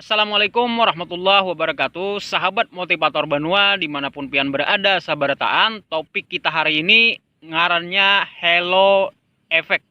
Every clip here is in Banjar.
Assalamualaikum warahmatullahi wabarakatuh Sahabat motivator Banua dimanapun pian berada sabarataan Topik kita hari ini ngarannya Hello Effect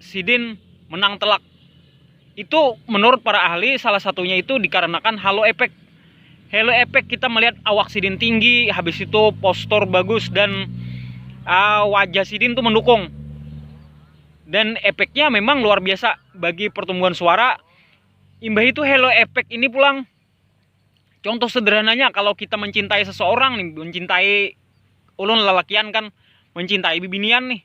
sidin menang telak. Itu menurut para ahli salah satunya itu dikarenakan halo efek. Halo efek kita melihat awak sidin tinggi, habis itu postur bagus dan uh, wajah sidin tuh mendukung. Dan efeknya memang luar biasa bagi pertumbuhan suara. Imbah itu halo efek ini pulang contoh sederhananya kalau kita mencintai seseorang nih mencintai ulun lelakian kan mencintai bibinian nih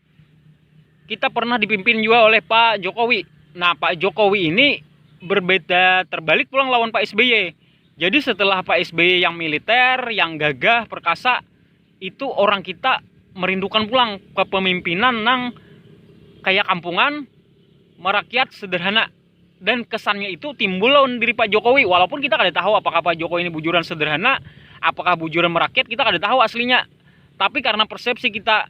kita pernah dipimpin juga oleh Pak Jokowi. Nah, Pak Jokowi ini berbeda terbalik pulang lawan Pak SBY. Jadi setelah Pak SBY yang militer, yang gagah, perkasa, itu orang kita merindukan pulang kepemimpinan nang kayak kampungan, merakyat sederhana. Dan kesannya itu timbul lawan diri Pak Jokowi, walaupun kita kada tahu apakah Pak Jokowi ini bujuran sederhana, apakah bujuran merakyat, kita kada tahu aslinya. Tapi karena persepsi kita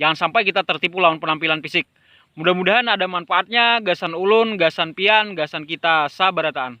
Jangan sampai kita tertipu lawan penampilan fisik. Mudah-mudahan ada manfaatnya gasan ulun, gasan pian, gasan kita sabarataan.